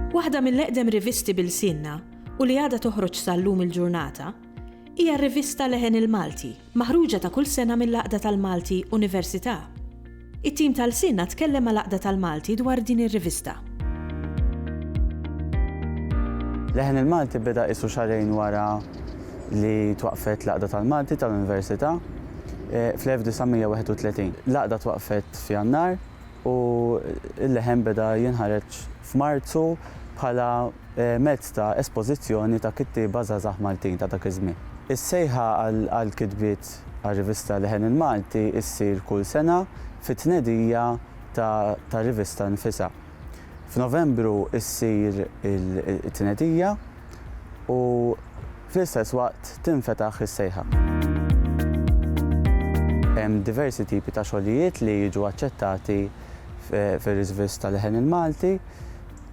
Waħda mill-eqdem rivisti bil-sinna u li għada toħroġ sal-lum il-ġurnata, hija r-rivista Leħen il-Malti, Maħruġa ta' kull sena mill-Għaqda tal-Malti Università. It-tim ta' lsienna tkellem mal-Għaqda tal-Malti dwar din ir-rivista. Leħen il-Malti beda qisu xahrejn wara li twaqqfet l-Għaqda tal-Malti tal-Università fl-1931. L-Għaqda twaqqfet f'Jannar. u l-leħen beda jinħareġ f'Marzu bħala mezz ta' espożizzjoni ta' kittieba żgħażagħ Maltin ta' dak iż-żmien. Is-sejħa għall-kitbiet għar-rivista Leħen il-Malti ssir kull sena fit-tnedija tar-rivista nfisha. F'Novembru ssir it-tnedija. u fl-istess waqt tinfetaħ is-sejħa. Hemm diversi tipi ta' xogħlijiet li jiġu aċċettati fir-Riżvist ta' Leħen il-Malti,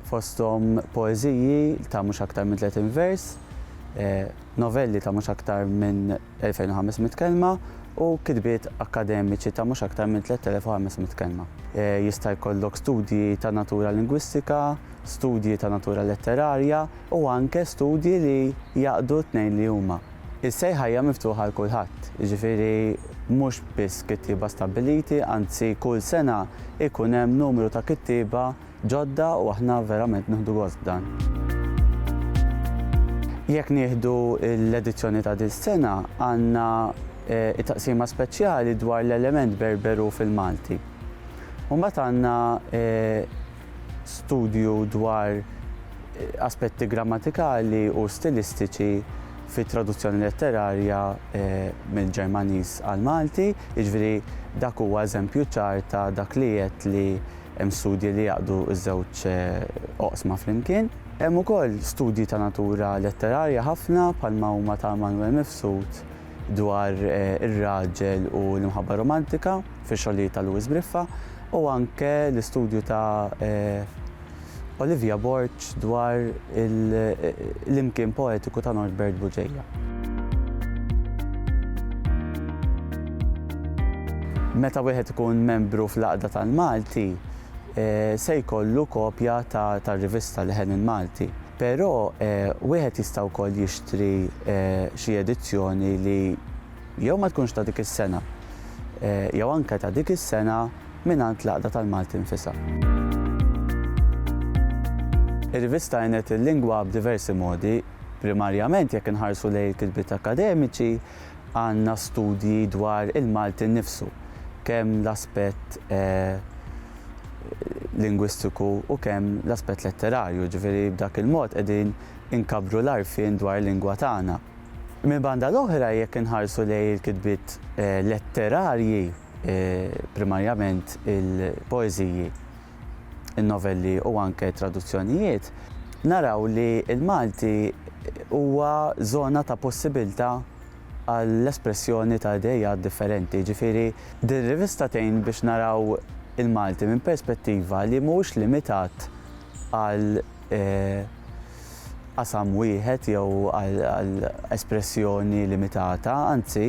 fosthom poeżiji ta' mhux aktar minn 30 vers, novelli ta' mhux aktar minn 2,500 kelma u kitbiet akkademiċi ta' mhux aktar minn 3,500 kelma. Jista' jkollok studji ta' natura lingwistika, studji ta' natura letterarja u anke studji li jgħaqqdu t-tnejn li huma. Is-sejħa hija miftuħa għal kulħadd, jiġifieri mhux biss kittieba stabbiliti, anzi kull sena jkun hemm numru ta' kittieba ġodda u aħna verament nieħdu gost b'dan. Jekk nieħdu l-edizzjoni ta' dis-sena, għandna t-taqsima speċjali dwar l-element Berberu fil-Malti. U mbagħad għandna studju dwar aspetti grammatikali u stilistiċi fit-traduzzjoni letterarja mill-Ġermaniż għall-Malti, jiġifieri dak huwa eżempju ċar ta' dak li għedt li hemm studji li jgħaqqdu ż-żewġ oqsma flimkien. Hemm ukoll studji ta' natura letterarja ħafna bħalma huma ta' Manwel Mifsud. dwar ir-raġel u l-imħabba romantika fix-xogħlijiet ta' Louis Briffa u anke l-istudju ta' Olivia Borg dwar l-imkien poetiku ta' Norbert Buġeja. Meta wieħed ikun membru fl-Għaqda tal-Malti, se jkollu kopja tar-rivista Leħen il-Malti. Però wieħed jista' wkoll jixtri xi edizzjoni li jew ma tkunx ta' dik is-sena jew anke ta' dik is-sena mingħand l-Għaqda tal-Malti nfisha. Ir-rivista għenet il-lingwa b'diversi modi. Primarjament jekk inħarsu lejn il-kitbiet akkademiċi, għandna studji dwar il-Malti nnifsu, kemm l-aspett lingwistiku u kemm l-aspett letterarju, jiġifieri b'dak il-mod qegħdin inkabbru l-għarfien dwar il-lingwa tagħna. Mill-banda l-oħra jekk inħarsu lejn il-kitbiet letterarji, primarjament il-poeżiji, in-novelli u anke t-traduzzjonijiet, naraw li l-Malti huwa żona ta' possibilità għall-espressjoni ta' ideat differenti. Jiġifieri, din ir-rivista tgħin biex naraw il-Malti minn perspettiva li mhuwiex limitat għal qasam wieħed jew għal espressjoni limitata, anzi,